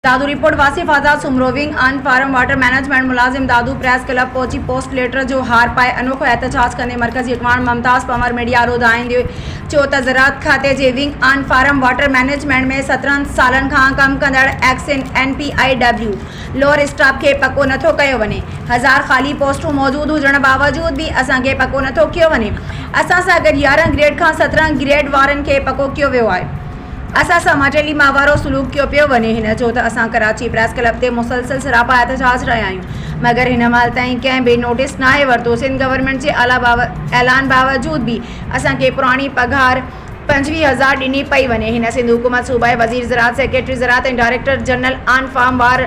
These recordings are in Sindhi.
Dadu report, Wasif Azad Soomro wing on farm water management ملازم دادو پريس ڪلب پهچي پوسٽ ليٽر جو هار پائي انوکو احتجاج ڪندي مرڪزي اڳواڻ ممتاز پنور ميڊيا ڏو ڌائيندي چيو ته زراعت کاتي جي wing on farm water management ۾ سترهن سالن کان ڪم ڪندڙ ex N P I W lower staff کي پڪو نٿو ڪيو وڃي هزار خالي پوسٽون موجود هجڻ باوجود به اسان کي پڪو نٿو ڪيو وڃي اسان سان گڏ يارهن گريڊ کان سترهن گريڊ وارن کي پڪو ڪيو ويو آهي. اسان سان ماٽيلي ماهوارو سلوڪ ڪيو پيو وڃي هن چيو ته اسان ڪراچي پريس ڪلب تي مسلسل سراپا احتجاج رهيا آهيون مگر هن مهل تائين ڪنهن به نوٽيس ناهي ورتو سنڌ گورنمينٽ جي اعلان باوجود به اسان کي پراڻي پگهار پنجويهه هزار ڏني پئي وڃي هن سنڌ حڪومت صوبائي وزير زراعت سيڪريٽري زراعت ۽ ڊائريڪٽر جنرل آن فارم وار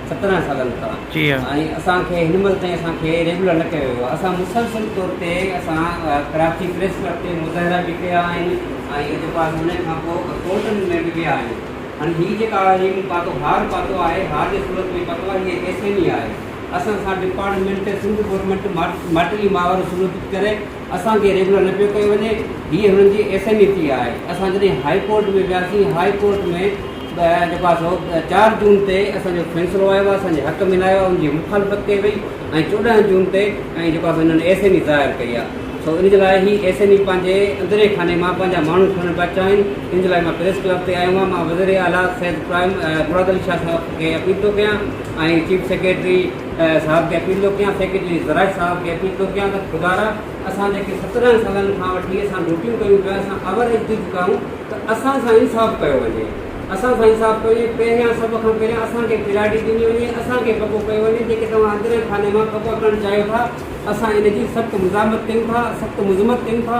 سترهن سالن کان ۽ اسان کي هن مهل تائين اسان کي ريگولر نه ڪيو ويو آهي اسان مسلسل طور تي اسان ڪراچي پريس ڪلب تي مظاهرا به ڪيا آهن ۽ جيڪو آهي ان کان پوء ڪورٽن ۾ به ويا آهيون هن هي جيڪا آهي مون پاتو هار پاتو آهي هار جي صورت ۾ پاتو آهي هي ايس ايم اي آهي اسان سان ڊپارٽمينٽ سنڌ گورنمينٽ ماٽلي ماور سلوڪ ڪري اسان کي ريگولر نه پيو ڪيو وڃي هي هنن جي ايس ايم اي پي آهي اسان جڏهن هاء ڪورٽ ۾ وياسين هاء ڪورٽ ۾ جيڪو آهي سو چار جون تي اسان جو فيصلو آيو آهي اسان جي حق ۾ نه آيو آهي ان جي مخالفت ڪئي وئي ۽ چوڏهن جون تي ۽ جيڪو آهي سو هنن ايس ايم اي ظاهر ڪئي آهي سو ان جي لاء هي ايس ايم اي پنهنجي اندرين خاني مان پنهنجا ماڻهو کڻڻ پيا چاهين ان جي لاء مان پريس ڪلب تي آيو آهيان مان وزير اعليٰ سيد پرائم مراد علي شاهه صاحب کي اپيل ٿو ڪيان ۽ چيف سيڪريٽري صاحب ڪيفي ٿو ڪيان سيڪريٽري زراج صاحب ڪيفي ٿو ڪيان ته خدارا اسان جيڪي سترهن سالن کان وٺي اسان ڊيوٽيون ڪيون پيا اسان اووريج ٿي چڪا آهيون ته اسان سان انصاف ڪيو وڃي اسان سان انصاف ڪيو وڃي پهريان سڀ کان پهريان اسان کي پريارٽي ڏني وڃي اسان کي پڪو ڪيو وڃي جيڪي توهان اندرين خاني مان پڪا ڪرڻ چاهيو ٿا اسان ان جي سخت مزاحمت ڪيون ٿا سخت مذمت ڪيون ٿا.